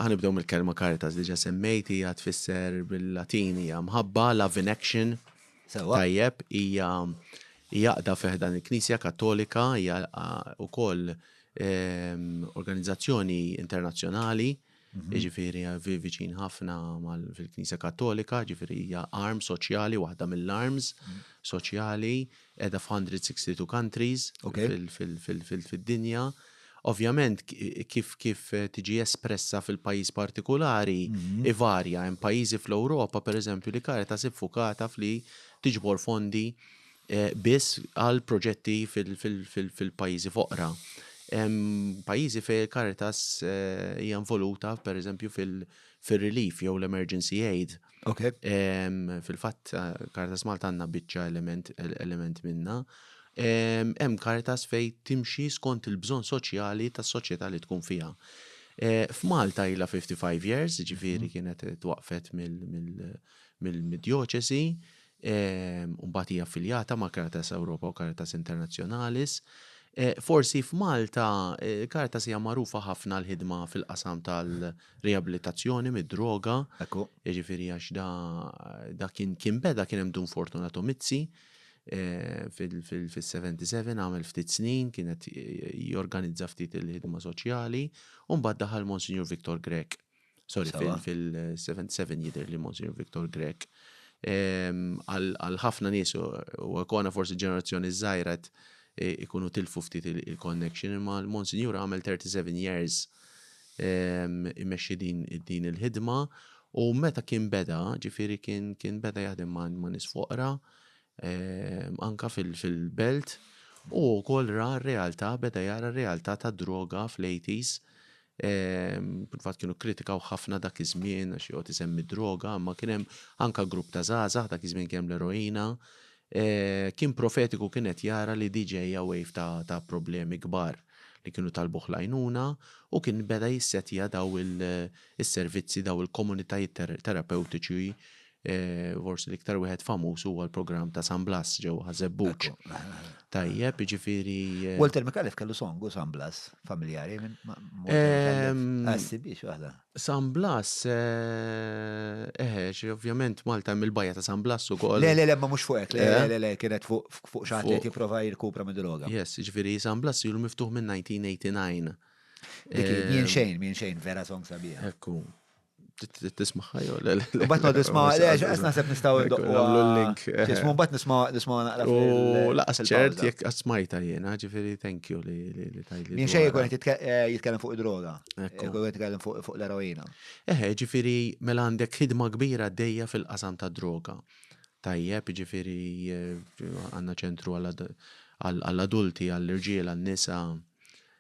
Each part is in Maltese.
ħanibdew mill-kelma caritas diġa semmejt hija tfisser bil-Latin hija mħabba, love in action. Tajjeb hija jaqda fiħdan il-Knisja Kattolika hija wkoll ehm, organizzazzjoni internazzjonali mhm. ġifiri viċin ħafna fil-Knisja Kattolika, ġifiri hija arm soċjali, waħda mill-arms mhm. soċjali. Mm -hmm Qiegħda f'162 countries fid-dinja. Ovvjament kif tiġi espressa fil-pajjiż partikulari ivarja. Hemm pajjiżi fl-Ewropa, pereżempju, li Caritas hi ffukata f'li tiġbor fondi biss għal proġetti fil-pajjiżi foqra. Hemm pajjiżi fejn Caritas hija involuta, pereżempju, fir-relief jew l-emergency aid. Ok. Fil-fatt, Caritas Malta għandna biċċa element, element minna. Hemm Caritas fej timxi skont il-bżonn soċjali tas-soċjetà li tkun fiha. Eh, F'Malta ila 55 years, ġifiri mhm. kienet twaqfet mill-dioċesi, Imbagħad hija affiljata ma' Caritas Europa u Caritas Internationalis. Forsi f'Malta Caritas hija magħrufa ħafna l-ħidma fil-qasam tal-riabilitazzjoni mid-droga. Ekku. Jiġifieri għax da, da kien kien beda kien hemm Dun Fortunato Mizzi fil-77 għamel ftit snin kienet jorganizza ftit il-ħidma soċjali u mbagħad daħal Monsignor Victor Grek Sorry, fil-77 jider li Monsignor Victor Grek. Għal ħafna nisu, u għakona forsi ġenerazzjoni zaħirat e, ikunu tilfu ftit il-connection, imma l-Monsignor għamel 37 years imexxi din il-ħidma u meta kien beda, ġifiri kien beda jaħdem ma' nis foqra, anka fil-belt, u kol ra realtà, beda jara realtà ta' droga fl-80s Fil-fatt kienu kkritikaw ħafna dak iż-żmien għax joqgħod isemmi d-droga, imma kien hemm anke grupp ta' żgħażagħ dak iż-żmien kien hemm l-eroina. Kien profetiku kien qed jara li di ġejja wave ta' ta' problemi kbar li kienu talbuh l-għajnuna u kien beda jissettja daw il-servizzi daw il-komunitajiet terapewtiċi Eh, forsi l-iktar wieħed famuż huwa l-programm ta' San Blas ġew ħażebbuk. Tajjeb, jiġifieri. Eh, Walter Mikallef kellu songu San Blas familjari minn Għassi biex waħda. San Blas, eħe, eh, ovvjament Malta mill bajja ta' San Blas u koll. Le, le, le, ma mux fuq, le, le, le, kienet fuq xaħat li jiprofa jirkupra minn droga. Yes, ġviri, San Blas jilu miftuħ minn 1989. Mien xejn, minn xejn, vera song sabiħ. Ekku. Tismaħħa jew le. Bat ma tisma' għaliex qed naħseb nistgħu ndoqqu. Nagħmlu l-link. Tismu bat nisma' nisma' naqra. U laqas ċert jekk qatt smajta jiena, ġifieri thank you li tajli. Min xejn jkun qed eh, jitkellem fuq id-droga. Jkun qed jitkellem fuq l-eroina. Eħe, ġifieri mela għandek ħidma kbira dejja fil-qasam ta' droga. Tajjeb, ġifieri eh, għandna ċentru għall-adulti, għall-irġiel, għall-nisa,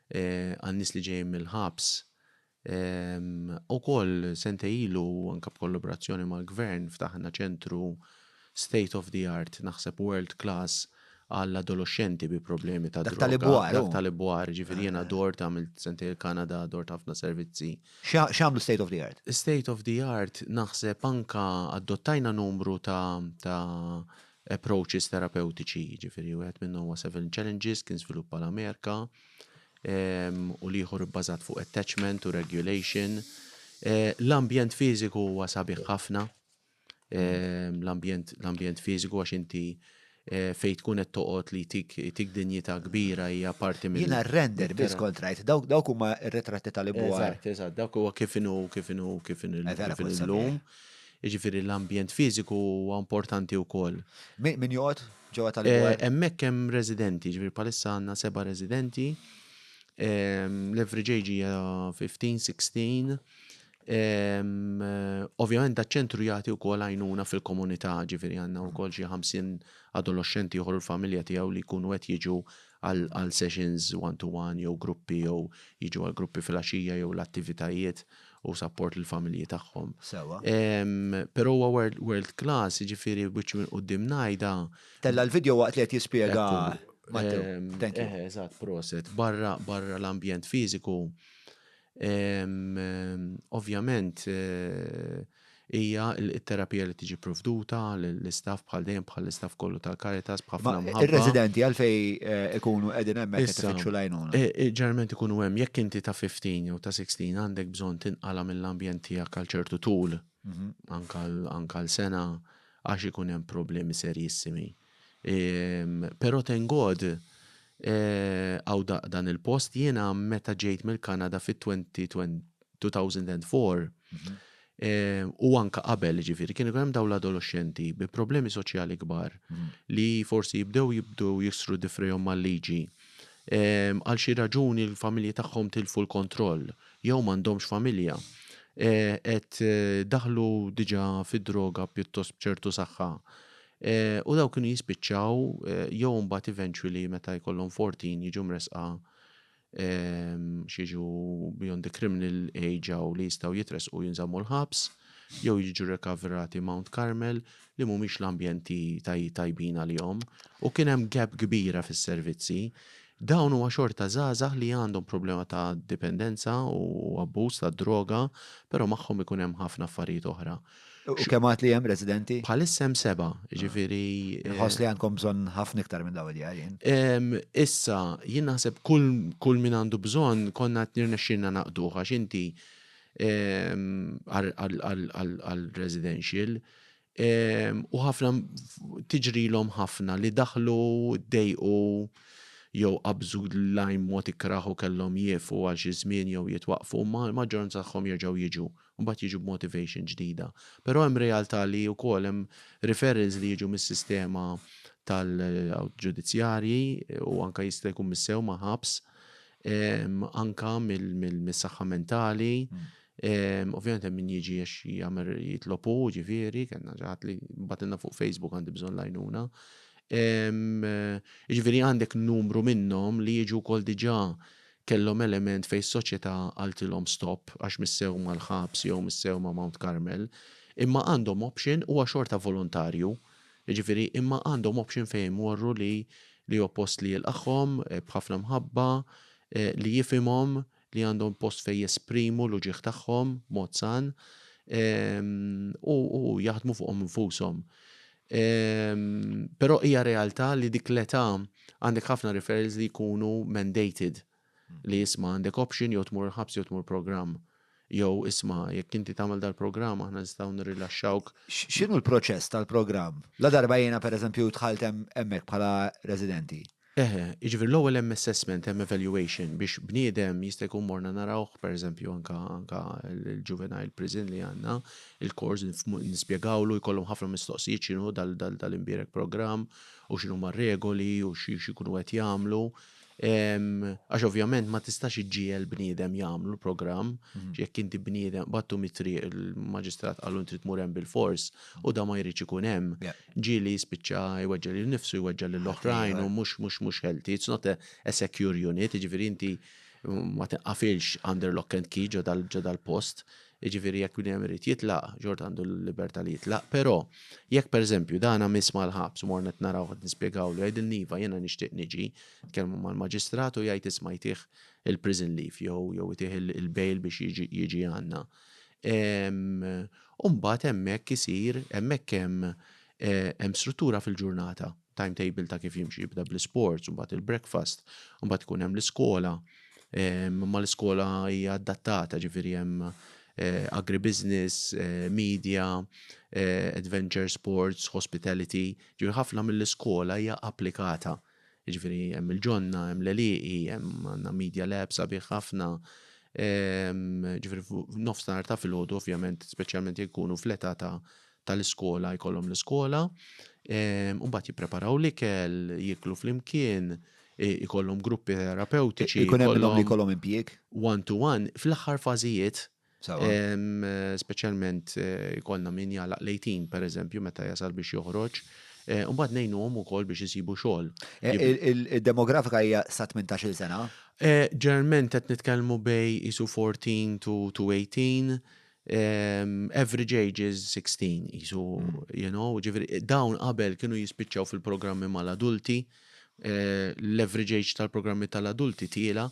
eh, għan-nies li ġejjin mill-ħabs Ukoll sentej ilu anke b'kollaborazzjoni mal-Gvern ftaħna ċentru state of the art, naħseb world class, għall-adoloxxenti bi problemi ta' droga. Dak tal-Ibwar. Dak tal-Ibwar, jiġifieri jiena dort għamilt sentejn il-Kanada, dort ħafna servizzi. X'għamlu state of the art? State of the art naħseb anke adottajna numru ta' approaches terapewtiċi, jiġifieri wieħed minnhom huwa seven challenges kien żviluppa l-Amerika. u l-ieħor ibbażat fuq attachment u regulation. L-ambjent fiżiku huwa sabiħ ħafna, l-ambjent fiżiku għax inti fejn tkun qed toqgħod li jtik dinjità kbira hija parti minn. Jiena r-render biss kont rajt, dawk huma r-ritratti tal-ibwar. Eżatt, eżatt, dawk huwa kif inhu, kif inhu, kif inhu llum. Jiġifieri l-ambjent fiżiku huwa importanti wkoll. Min joqgħod ġewwa tal-Gwar. Hemmhekk hemm residenti, ġifieri bħalissa għandna seba' residenti. L-average age hija 15, 16. Ovvjament da ċentru jagħti wkoll għajnuna fil-komunità, ġifieri għandna wkoll xi 50 adoloxxenti ieħor u l-familja tiegħu li jkunu qed jiġu għal sessions one to one jew gruppi jew jiġu għal gruppi filgħaxija jew l-attivitajiet u sapport lill-familji tagħhom. Sewwa. Però huwa world class, jiġifieri wiċċ minn quddiem ngħidha. Tella' l-video waqt li qed jispjega Mattew. Eżatt, proset. Barra l-ambjent fiżiku Ovvjament hija t-terapija li tiġi provduta l-istaff bħal dejjem bħal istaff kollu tal-Caritas bħafna mħabba. Ir-residenti għalfej eh, ikunu qegħdin hemmhekk qed ifittxu lajnuna. Eh, eh, ġarment ikunu hemm jekk inti ta' 15 jew ta' 16 għandek bżonn tinqala mill-ambjent tiegħek għal ċertu tul mhm. anka l-sena għax ikun hemm problemi serjissimi. Pero thank God hawn dan il-post. Jiena meta ġejt mill-Kanada fit-2004 u anke qabel jiġifieri kienu hemm dawn l-adoloxxenti bi problemi soċjali kbar li forsi jibdew jibdu jiksru difrihom mal-liġi. Għal xi raġuni l-familji tagħhom tilfu l-kontroll jew m'għandhomx familja. Qed daħlu diġa fid-droga pjuttost b'ċertu saħħa. U dawk kienu jispiċċaw jew imbagħad eventually meta jkollhom 14 jiġu mresqa xieġu beyond the criminal age għaw li jistaw jitresqu jinżammu l-ħabs, jew jiġu rekaverati Mount Carmel li mumiex l-ambjenti tajbin għal-jom, u kienem gap kbira fis-servizzi. Dawn huwa xorta zazah li għandhom problema ta' dipendenza u abbuż ta' droga, pero maħħom ikunem ħafna affarijiet oħra. U kemm għad li hemm residenti? Bħalissa hemm seba', jiġifieri. Ah. Inħoss li għandkom bżonn ħafna iktar minn dawn id-djar jien. Ehm, issa, jien naħseb kull, kull min għandu bżonn konna qed nirnexxilna naqduh għax inti ehm, għal residential ehm, u ħafna tiġrilhom ħafna li daħlu dejqu jew qabżu l-lajm mod ikraħu kellhom jiefu għal xi żmien jew jitwaqfu ma maġġoranza tagħhom jerġgħu jiġu u mbagħad jiġu b'motivation ġdida. Però hemm realtà li wkoll hemm referrals li jiġu mis-sistema tal-ġudizzjarji u anke jista' jkun mis-sewma ħabs, anke mis-saħħa mentali. Ovvjament hemm min jiġi għax jagħmel jitlob hu, ġifieri, kellna xi ħadd li bagħtilna fuq Facebook għandi bżonn l-għajnuna. Jiġifieri għandek numru minnhom li jiġu wkoll diġà Kellhom element fejn s-soċjetà qaltilhom stop għax missew mal-ħabs jew missew ma' Mount Carmel, imma għandhom option, huwa xorta volontarju, jiġifieri imma għandhom option fejn imorru li li hu post li jilqagħhom b'ħafna mħabba, li jifhimhom, li għandhom post fejn jesprimu l-uġigħ tagħhom b'mod san u u jaħdmu fuqhom infushom. Però hija realtà li dik l-età għandek ħafna referrals li jkunu mandated li jisma' għandek option jew tmur il-ħabs jew tmur programm jew isma' jekk inti tagħmel dal-programm aħna nistgħu nirrilaxxawk. X'inhu l-proċess tal-programm? La darba jiena pereżempju dħalt hemmhekk bħala residenti. Eħe, jiġifieri l-ewwel hemm assessment, hemm evaluation biex bniedem jista' jkun morna narawh pereżempju anke anke l-juvenile prison li għandna, il-course nispjegawlu jkollhom ħafna mistoqsijiet x'inhu dal dal dal-imbierek programm u x'inhuma r-regoli u xi x'ikunu qed jagħmlu. Għax ovvjament ma tistax iġġiegħel bniedem jagħmlu l-programm, jekk inti bniedem, bagħtu mit-triq il-maġistrat qallu trid tmur hemm bilfors u dan ma jridx ikun hemm. ġieli jispiċċa jweġġa' lilu nnifsu, jweġġa' lil oħrajn u mhux mhux mhux healthy. It's not a, a secure unit, jiġifieri inti ma tinqafilx under lock and key ġo dal-post. Jiġifieri jekk bniem irid jitlaq, ġort għandu l-libertà li jitlaq, però jekk pereżempju dana miss mal-ħabs u morna narawh qed nispjegawlu jgħidilni iva jiena nixtieq niġi, tkellmu mal-maġistrat u jgħid isma' jtih il-prison leave jew jew jtih il-bail biex jiġi għandna. u mbagħad hemmhekk isir, hemmhekk hemm hemm struttura fil-ġurnata, timetable ta' kif jimxi jibda bl-isports, mbagħad il-breakfast, mbagħad ikun hemm l-iskola, imma l-iskola hija adattata ġifieri hemm agribusiness, media, adventure sports, hospitality, ġifieri ħafna mill-iskola hija applikata Jiġifieri hemm il-ġonna, hemm l-għelieqi, hemm għandna Media Lab sabiħ ħafna. Ġifieri f'nofsinhar ta' filgħodu ovvjament, speċjalment jekk ikunu fl-età ta' tal-iskola jkollhom l-iskola. U mbagħad jippreparaw l-ikel, jieklu flimkien, ikollhom gruppi terapewtiċi. Ikun hemm minnhom li jkollhom impjieg? One to one. Fl-aħħar fażijiet Speċjalment jkollna min jagħlaq l-18 pereżempju meta jasal biex joħroġ. Imbagħad ngħinuhom ukoll biex isibu xogħol. Id-demografika hija sa 18-il sena? Ġeneralment qed nitkellmu bejn qisu 14 to 18. Average age is 16 qisu, you know, ġifieri dawn qabel kienu jispiċċaw fil-programmi mal-adulti. L-average age tal-programmi tal-adulti tiela',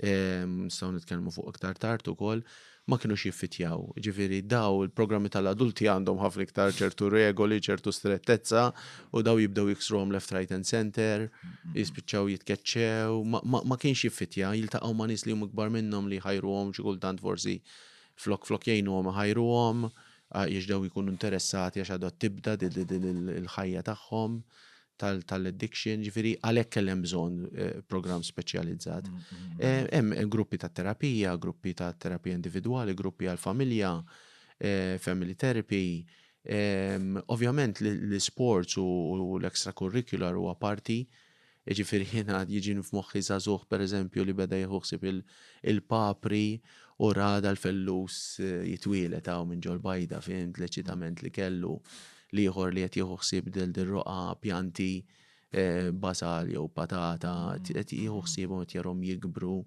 nistgħu nitkellmu fuq iktar tard ukoll, ma kinux jiffitjaw. Ġifieri daw il-programmi tal-adulti għandhom ħafna iktar ċertu regoli, ċertu strettezza u daw jibdew jiksruhom left, right and center, jispiċċaw jitkeċċew, ma kienx jiffitja, jiltaqgħu ma' nies li huma kbar minnhom li jħajruhom xi kultant forsi flok flok jgħinuhom iħajruhom għax daw ikunu interessati għax għadha tibda din il-ħajja tagħhom. tal-addiction, ġifiri għalhekk kellem bżonn eh, programm speċjalizzat. Mm, mm, eh, mm. Hemm gruppi ta' terapija, gruppi ta' terapija individwali, gruppi għal-familja, eh, family therapy. Ehm, ovvjament l-sports u l-extracurricular huwa parti ġifiri jina jiġin f'moħħi zazuħ per eżempju li beda jħuħsib il-papri u rada l-fellus jitwilet għaw minn ġol bajda fint l-eċitament li kellu L-ieħor li qed jieħu ħsieb lil din roqgħa pjanti basal jew patata, qed jieħu ħsiebhom qed jarhom jikbru.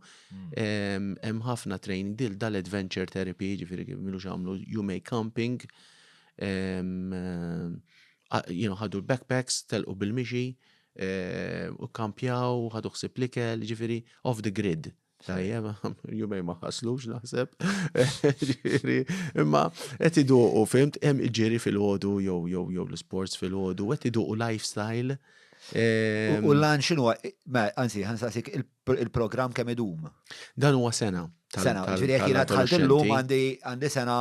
Hemm ħafna training dil dal-adventure therapy, ġifieri kif milux għamlu you may camping. Jienu ħadu l-backpacks, telqu bil-mixi, u kkampjaw, ħadu ħsieb l-ikel, ġifieri off the grid. Tajjem, jumej ma ħaslux naħseb. Imma qed iduqu fimt hemm iġiri fil-ħodu jew jew jew l-sports fil-ħodu qed iduqu lifestyle. Ehm, u lan xinu, ma anzi ħansaqsik il-programm kemm idum. Dan huwa sena. Sena, ġifieri jekk jiena tħalt illum għandi għandi sena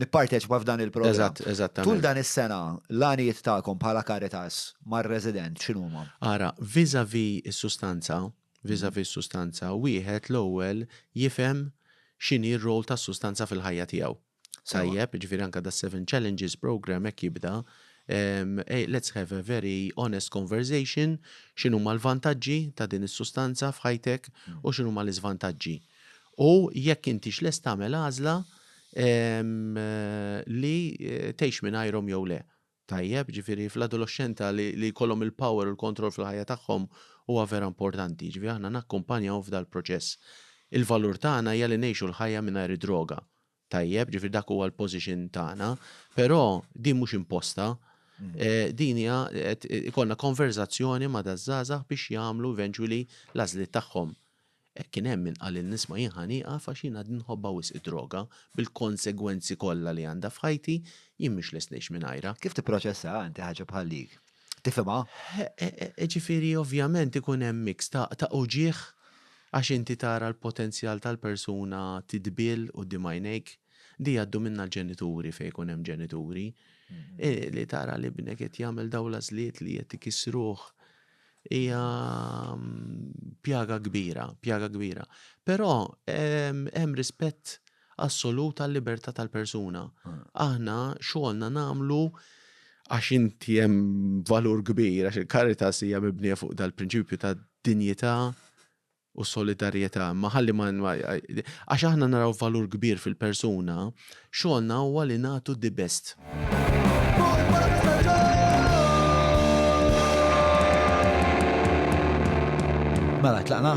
nipparteċipa f'dan il-programm. Eżatt, eżatt. Tul dan is-sena l-għanijiet tagħkom bħala Caritas mar-resident x'inhuma? Ara, viżavi s-sustanza vis-à-vis sustanza, wieħed l-ewwel jifhem x'inhi r-role tas-sustanza fil-ħajja tiegħu. Tajjeb, jiġifieri anke da Seven Challenges programme hekk jibda, let's have a very honest conversation, x'inhuma l-vantaġġi ta' din is-sustanza f'ħajtek u x'inhuma l-iżvantaġġi. U jekk intix lest tagħmel għażla li tgħix mingħajrhom jew le. tajjeb, ġifieri fl-adoloxxenta li li jkollhom il-power u l-kontroll fil-ħajja tagħhom huwa vera importanti, ġifieri aħna nakkumpanjahom f'dal-proċess. Il-valur tagħna hija li ngħixu l-ħajja mingħajr id-droga. Tajjeb, ġifieri dak huwa l-position tagħna, però din mhux imposta, din hija qed ikollna konverżazzjoni ma' daż-żgħażagħ biex jagħmlu eventually l-għażliet tagħhom. Kien hemm min qalilni isma' jien ħa nieqaf għax jien għadni nħobbha wisq id-droga, bil-konsegwenzi kollha li għandha f'ħajti, jien mhux lest ngħix mingħajrha. Kif tipproċessaha inti ħaġa bħal dik? Tifhimha? Ġifieri ovvjament ikun hemm mix ta' uġigħ għax inti tara l-potenzjal tal-persuna tidbiel quddiem għajnejk. Di jgħaddu minnha l-ġenituri fejn ikun hemm ġenituri. Li tara li ibnek qed jagħmel dawn l-għażliet li qed ikissruh. Hija pjaga kbira, pjaga kbira. Però hemm rispett assolut għal-libertà tal-persuna. Ah. Aħna xogħolna nagħmlu għax inti hemm valur kbir, għax il-karita hija mibnija fuq dal-prinċipju ta' dinjità u solidarjetà, imma ħalli ma għax aħna naraw valur kbir fil-persuna, xogħolna huwa li nagħtu the best. Mela, tlaqna?